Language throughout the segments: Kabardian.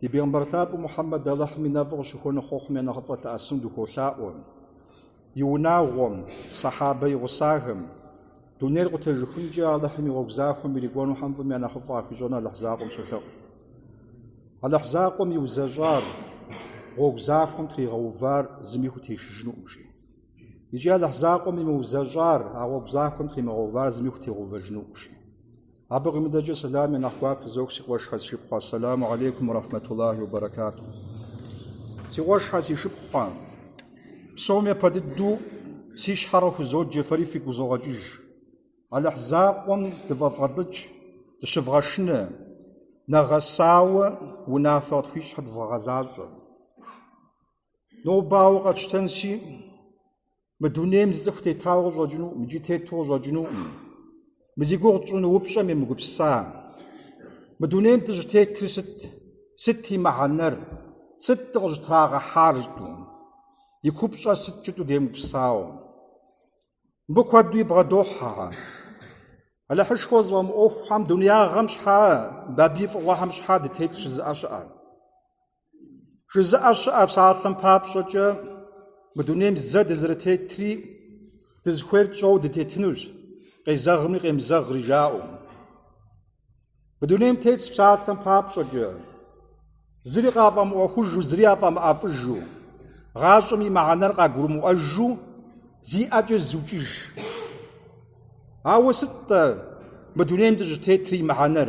Ди Бегъымбар Лъапӏэ Мухьэммэд Алыхьым и нэфӏыр къыщыхуэну хъуэхъум я нэхъыфӏэ лъэӏэсыну дыхуолъаӏуэ. И унагъуэм, Сэхьабэ и гъусахэм, дунейр къутежыхункӏэ Алыхьым и гъуэгу захуэм ирикӏуэнухэм фӏым я нэхъыфӏ къахуищӏэну Алыхь закъуэм солъэӏу. Алыхь закъуэм иузэщӏар, гъуэгу захуэм тригъэувар зыми хутешыжынукъым, жи. Икӏи Алыхь закъуэм имыузэщӏар, а гъуэгу захуэм тримыгъэувар зыми хутегъэувэжынукъым, жи. Абы къимыдэкӏэ сэлам я нэхъ гуапэ фызох си къуэшхэ си шыпхъухэ, Ассаламу гьалейкум уэ рахьмэтуллахи уэ баракату. Си къуэшхэ си шыпхъухэ, псом япэ дыдэу си щхьэр къыхузоджэ фэри фигу къызогъэкӏыж. Алыхь закъуэм дыфӏэвгъэлӏыкӏ, дыщывгъэшынэ, нэгъэсауэ унафэ къытхуищӏхэр дывгъэгъэзащӏэ. Нобауэ къэтщтэнси, Мы дунейм зы цӏыху тетауэ къыщӏэкӏынукъым икӏи тету къыщӏэкӏынукъым. Мы зи гугъу тщӏыну упщӏэм емыгупса. Мы дунейм дыщӏытетыр сыт? Сыт и мыхьэнэр? Сыт дыкъыщӏытрагъэхьар жытӏу? И купщӏэр сыт жытӏу демыгупсауэ? Мыбы куэду ибгъэдохьэ. Алыхьышхуэ зыфӏэмыӏуэхухэм, дунеягъэм щхьа, абы и фӏыгъуэхэм щхьа дытетщ жызыӏэ щыӏэр? Жызыӏэ щыӏэ псалъэм папщӏэкӏэ мы дунейм зэ дызэрытетри, дызыхуейр тщӏэу дытетынущ, къезэгъми къемызэгъри жаӏэу. Мы дунейм тетщ псалъэм папщӏэкӏэ, зыри къафӏэмыӏуэхужу, зыри афӏэмыӏэфӏыжу, гъащӏэм и мыхьэнэр къагурымыӏуэжу зи ӏэкӏэ зыукӏыж. Ауэ сыт-тӏэ мы дунейм дыщӏытетри и мыхьэнэр?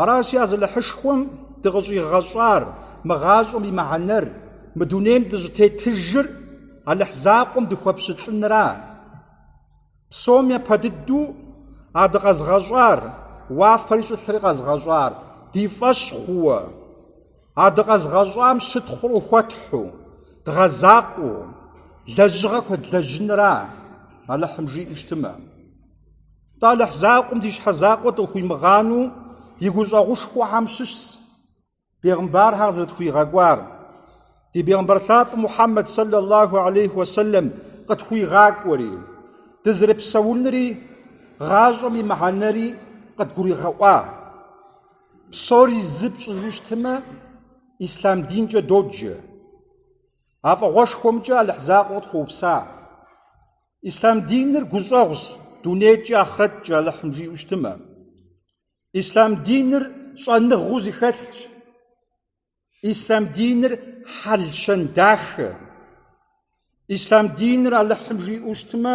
Аращи, а зы Алыхьышхуэм дыкъыщӏигъэщӏар, мы гъащӏэм и мыхьэнэр, мы дунейм дыщӏытетыжыр Алыхь закъуэм дыхуэпщылӏынра? Псом япэ дыдэу а дыкъэзыгъэщӏар, уафэри щӏылъри къэзыгъэщӏар, ди фӏэщ хъууэ, а дыкъэзыгъэщӏам щытхъур хуэтхьу, дгъэзакъуэу, лэжьыгъэ хуэдлэжьынра Алыхьым жиӏэу щытмэ? Тӏэ Алыхь закъуэм ди щхьэ закъуэ дыкъыхуимыгъанэу и гущӏэгъушхуэхэм щыщщ бегъымбархэр къызэрытхуигъэкӏуар. Ди Бегъымбар Лъапӏэ Мухьэммэд сэллаллаху алейхи уэсэлэм къытхуигъакӏуэри, дызэрыпсэунри гъащӏэм и мыхьэнэри къыдгуригъэӏуа. Псори зы пщӏыжу щытмэ, ислъам динкӏэ доджэ. А фӏыгъуэшхуэмкӏэ Алыхь закъуэ къытхуэупса. Ислъам диныр гущӏэгъущ дунейкӏэ ахърэткӏэ Алыхьым жиӏэу щытымэ. Ислъам диныр щӏэныгъэу зыхэлъщ. Ислъам диныр хьэл-щэн дахэ. Ислъам диныр Алыхьым жиӏэу щытымэ,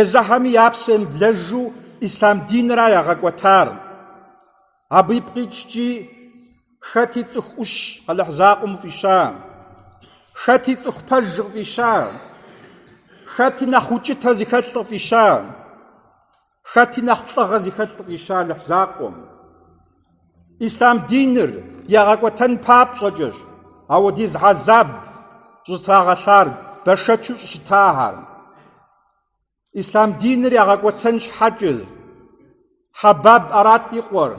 Езыхэми я псэ емыблэжу ислъам динра ягъэкӏуэтар. Абы ипкъ иткӏи, хэти цӏыху ӏущ Алыхь закъуэм фӏища, хэти цӏыху пэж къыфӏища, хэти нэхъ укӏытэ зыхэлъ къыфӏища, хэти нэхъ лӏыгъэ зыхэлъ къыфӏища Алыхь закъуэм. Ислъам диныр ягъэкӏуэтэн папщӏэкӏэщ ауэдиз гьэзаб щӏытрагъэлъар бэшэчу щӏыщытахэр. Ислъам диныр ягъэкӏуэтэн щхьэкӏэщ Хьэбаб Ӏэрат и къуэр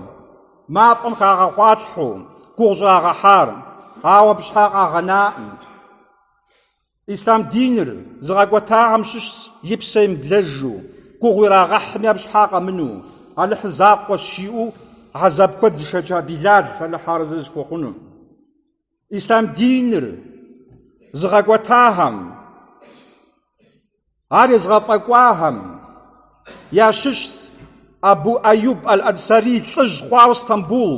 мафӏэм хагъэгъуалъхьэу гугъу щӏрагъэхьар, ауэ абы щхьа къагъэнаӏым. Ислъам диныр зыгъэкӏуэтахэм щыщщ и псэ емыблэжу, гугъу ирагъэхьми абы щхьа къэмыну, Алыхь закъуэщ жиӏэу гьэзаб куэд зышэча Билал Алыхь арэзы зыхуэхъуну. Ислъам диныр зыгъэкӏуэтахэм. Ар езыгъэфӏэкӏуахэм ящыщщ Абу Аюб аль-Ансари лӏыжь хъуауэ Стамбул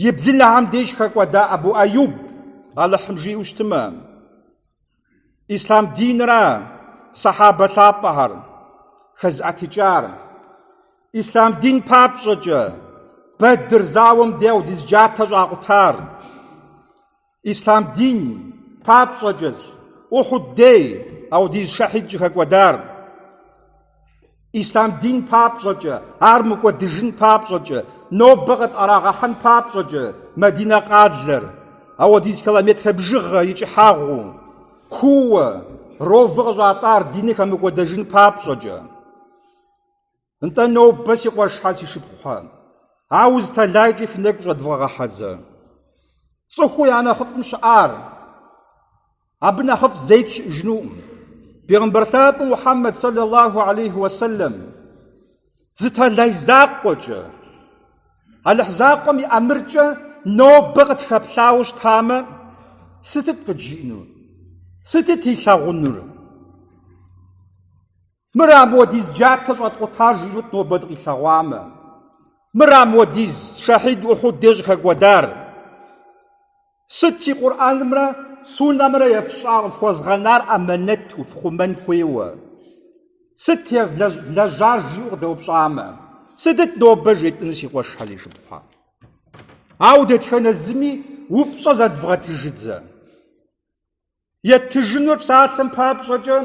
и блынэхэм деж хэкӏуэда Абу Аюб, Алыхьым жиӏэу щытымэ, ислъам динра сэхьэбэ лъапӏэхэр хэзыӏэтыкӏар. Ислъам дин папщӏэкӏэ Бэдыр зауэм дей ауэдиз джатэ щӏакъутар. Ислъам дин папщӏэкӏэщ Ухьуд дей ауэдиз шэхьид щӏыхэкӏуэдар. Ислъам дин папщӏэкӏэ, ар мыкӏуэдыжын папщӏэкӏэ, нобэ къытӏэрагъэхьэн папщӏэкӏэ Мадинэ къалэр, ауэдиз километрэ бжыгъэ и кӏыхьагъыу, кууэ, ров къыщӏатӏар диныр хэмыкӏуэдэжын папщӏэкӏэ. Нтӏэ нобэ си къуэшхэ си шыпхъухэ, ауэ зы тэлайкӏэ фи нэгу щӏэдвгъэгъэхьэзэ. Цӏыхуу я нэхъыфӏым щыӏар, абы нэхъыфӏ зейт щыӏэжынуӏым. Бегъымбар лъапӏэ Мухьэммэд саллаллаху алейхи уэсэлэм зы тэлай закъуэкӏэ, Алыхь закъуэм и ӏэмыркӏэ нобэ къытхэплъауэ щытамэ, сытыт къыджиӏэнур, сытыт илъагъунур? Мыра ауэдиз джатэ щӏэткъутар жиӏэнут нобэ дыкъилъэгъуамэ. Мыра ауэдиз шэхьид Ухьуд деж щӏыхэкӏуэдар. Сыт си Къурӏэнымрэ Суннэмрэ ефщӏа къыфхуэзгъэнар амэнэту фхъумэн хуейуэ? Сыт евлэжьар жиӏэу къыдэупщӏамэ, сытыт нобэ жетӏэнур си къуэшхэ си шыпхъухэ? Ауэ дэтхэнэ зыми упщӏэ зэдвгъэтыжыдзэ. Еттыжынур псалъэм папщӏэкӏэ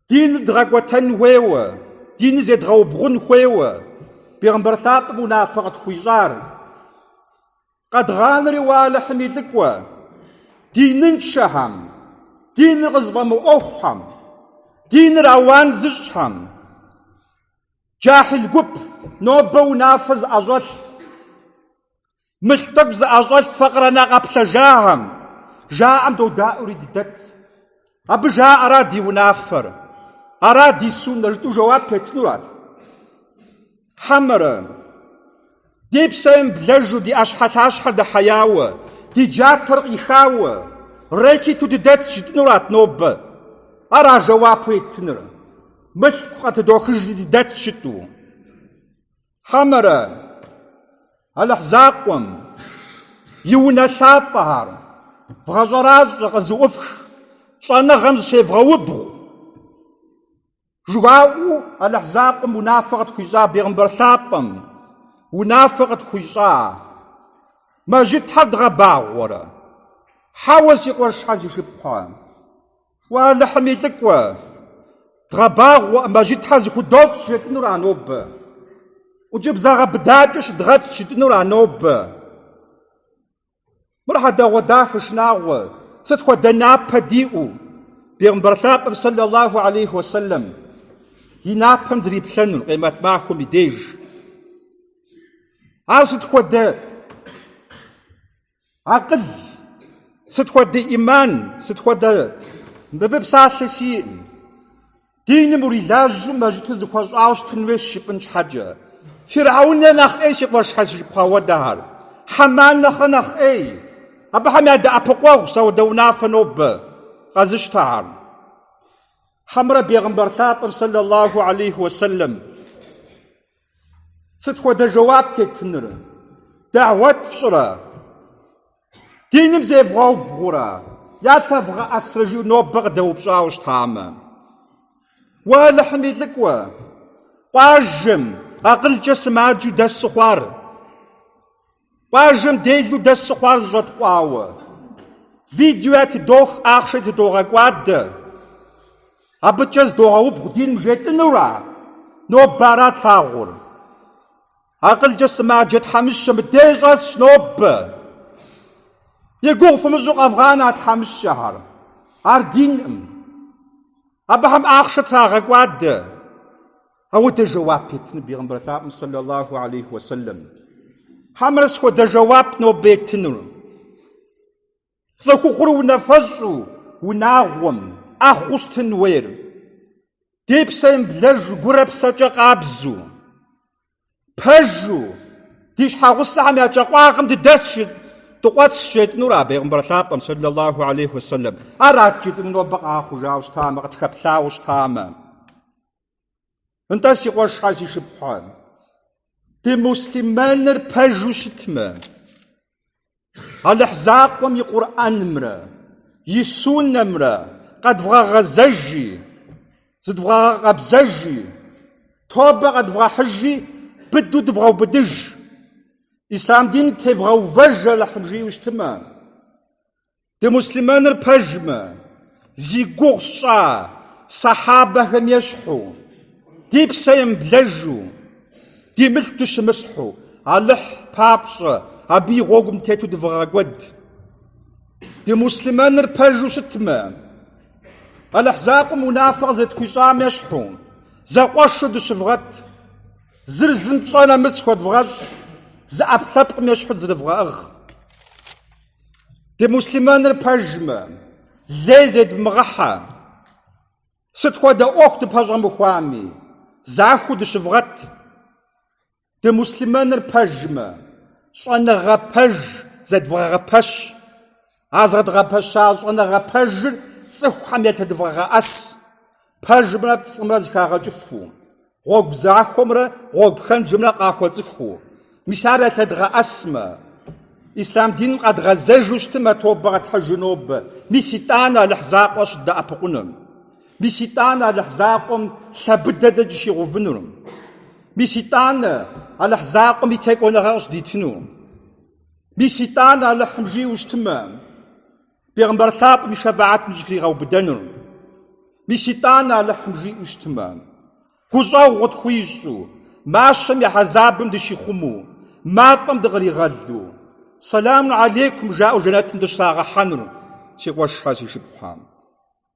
диныр дгъэкӏуэтэн хуейуэ, диныр зедгъэубгъун хуейуэ Бегъымбар лъапӏэм унафэ къытхуищӏар. Къэдгъанэри уэ Алыхьым и лӏыкӏуэ, диныншэхэм, диныр къызыфӏэмыӏуэхухэм, диныр ауан зыщӏхэм, джахьил гуп, нобэ унафэ зыӏэщӏэлъ. Мылъку тӏэкӏу зыӏэщӏэлъ факъырэ нэ къэплъэжахэм, жаӏэм додаӏуэри дыдэт. Абы жаӏэра ди унафэр, ара ди суннэр жытӏэу жэуап еттынурат. Хьэмэрэ, ди псэ емыблэжу, ди ӏэщхьэлъащхьэр дэхьеяуэ, ди джатэр къихауэ, рэкету дыдэт жытӏэнурат нобэ. Ара жэуапу еттыныр? Мылъку къатыдохыжри дыдэт жытӏу. Хьэмэрэ Алыхь Закъуэм и унэ лъапӏэхэр вгъэщӏэращӏэ, къызыӏуфх, щӏэныгъэм зыщевгъэубгъу. Жыхуаӏэу Алыхь Закъуэм унафэ къытхуищӏа бегъымбар лъапӏэм унафэ къытхуищӏа мэжытхэр дгъэбагъуэрэ? Хьэуэ, си къуэшхэ, си шыпхъухэ. Уэ Алыхьым и лӏыкӏуэ, дгъэбагъуэ, мэжытхэр зыхудощӏ жытӏынура нобэ. ӏункӏыбзэ гъэбыдакӏэ щыдгъэт жытӏынура нобэ. Мыр хьэдэгъуэдахэ шынагъуэ, сыт хуэдэ напэ диӏэу, Бегъымбар лъапӏэм сэллаллаху алейхи уэсэлэм, и напэм зриплъэнур, къемэт махуэм и деж. Ар сыт хуэдэ? Акъыл, сыт хуэдэ ӏиман, сыт хуэдэ мыбы псалъэ сиӏым? Диным урилажьэу мэжыту зыхуэщӏауэ щытын хуейщ жыпӏын щхьэкӏэ. Фирхьэун нэхърэ нэхъ ӏей си къуэшхэ, си шыпхъухэ, ауэдэхэр. Хьэман нэхърэ нэхъ ӏей. Абыхэм ядэӏэпыкъуэгъус ауэдэ унафэ нобэ къэзыщтахэр. Хьэмрэ бегъымбар лъапӏэм, сэллаллаху алейхи уэсэлэм, Сыт хуэдэ жэуап еттыныр? Дагъуэт фщӏырэ? Диным зевгъэубгъурэ? Ялъэвгъэӏэсрэ жиӏэу нобэ къыдэупщӏауэ щытамэ? Уэ Алыхьым и лӏыкӏуэ, къуажэм, акъылкӏэ сымаджэу дэсу хъуар, Къуажэм делу дэсу хъуар зыщӏэткъуауэ. Видео тыдох, ахъшэ тыдогъэкӏуадэ. Абыкӏэ здогъэубгъу диным жетӏынура? Нобэ ара тлъагъур? Акъылкӏэ сымаджэ тхьэмыщкӏэ мыдей щӏэсщ нобэ. И гугъу фымыщӏу къэвгъанэ а тхьэмыщкӏэхэр. Ар динкъым. Абыхэм ахъшэ трагъэкӏуадэ. Ауэ дэ жэуап еттыну Бегъымбар лъапӏэм сэллалаху алейхи ва сэллэм. Хьэмэрэ сыт хуэдэ жэуап нобэ еттынур? Цӏыхухъур унафэщӏу, унагъуэм, ӏэхъуэу щытын хуейр. Ди псэ емыблэжу гурэ псэкӏэ къабзу, пэжу, ди щхьэгъусэхэм я кӏэ къуагъым дыдэсщ, дыкъуэтсщ жетӏынура Бегъымбар лъапӏэм сэллалаху алейхи ва сэллэм. Ара дэ жетӏынур нобэ къэхъужауэ щытамэ, къытхэплъауэ щытамэ. Нтӏэ си къуэшхьэ си шыпхъухьэ, дымуслъымэныр пэжу щытмэ, Алыхь закъуэм и Къурӏэнымрэ и Суннэмрэ къэдвгъэгъэзэжи, зыдвгъэгъэкъэбзэжи, тобэ къэдвгъэхьыжи, быдэу дывгъэубыдыж, ислъам дин тевгъэувэж Алыхьым жиӏэу щытмэ, Дымуслъымэныр пэжмэ, зи гугъу сщӏа сахьабэхэм ещхьу, ди псэ емыблэжу, ди мылъку дыщымысхьу, Алыхь папщӏэ, абы и гъуэгум тету дывгъэкӏуэд. Дымуслъымэныр пэжу щытмэ, Алыхь закъуэм унафэ къызэрытхуищӏам ещхьу, зэкъуэшу дыщывгъэт, зыр зым пщӏэ нэмыс хуэдвгъэщӏ, зы ӏэпкълъэпкъым ещхьу дызэрывгъэӏыгъ. Дымуслъымэныр пэжмэ, лей зедмыгъэхьэ. Сыт хуэдэ ӏуэху дыпэщӏэмыхуами, захуэу дыщывгъэт. Дымуслъымэныр пэжмэ, щӏэныгъэ пэж зэдвгъэгъэпэщ. А згъэдгъэпэща щӏэныгъэ пэжыр цӏыхухэм елъэдвгъэгъэӏэс, пэжымрэ пцӏымрэ зыхагъэкӏыфу. Гъуэгу захуэмрэ гъуэгу пхэнжымрэ къахуэцӏыхуу. Мис ар ялъэдгъэӏэсмэ, ислъам диным къэдгъэзэжу щытымэ, тобэ къэтхьыжу нобэ. Мис итӏанэ Алыхь закъуэ щыддэӏэпыкъунур. Мис итӏанэ Алыхь закъуэм лъэ быдэ дэ дыщигъэувынур. Мис итӏанэ Алыхь закъуэм и текӏуэныгъэр къыщыдитыну. Мис итӏанэ Алыхьым жиӏэу щытымэ, Бегъымбар лъапӏэм и шэфэӏэтым дыщыхригъэубыдэнур. Мис итӏанэ Алыхьым жиӏэу щытмэ. Гущӏэгъу къытхуищӏу, мащэм и хьэзабым дыщихъумэу, мафӏэм дыкъригъэлу, Сэлам алейкум жаӏэу жэнэтым дыщрагъэхьэнур си къуэшхьэ, си шыпхъухьэ.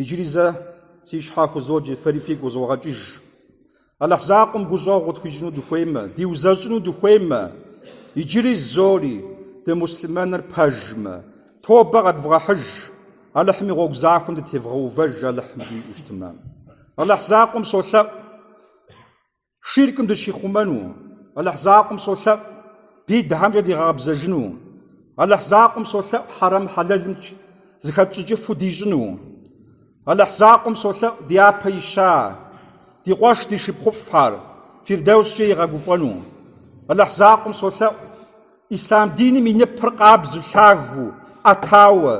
Иджыри зэ си щхьэ хузоджи, фэри фигу къызогъэкӏыж. Алыхь закъуэм гущӏэгъу къытхуищӏыну дыхуеймэ, диузэщӏыну дыхуеймэ, иджыри зори, дымуслъымэныр пэжмэ, тобэ къэдвгъэхьыж, Алыхьым и гъуэгу захуэм дытевгъэувэж Алыхьым жиӏэу щытмэ. Алыхь закъуэм солъэӏу. Ширкым дыщихъумэну, Алыхь закъуэм солъэӏу бидхьэмкӏэ дигъэкъэбзэжыну. Алыхь закъуэм солъэӏу хьэрэм хьэлэлымкӏэ зыхэтщӏыкӏыфу дищӏыну. Алыхь закъуэм солъэӏу ди япэ ища, ди къуэш, ди шыпхъуфӏхэр Фирдэускӏэ игъэгуфӏэну. Алыхь закъуэм солъэӏу Ислъам диным и ныпыр къабзу, лъагэу, ӏэтауэ,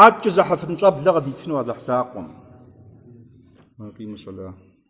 адэкӏэ зезыхьэфын щӏэблэ къыдитыну Алыхь закъуэм.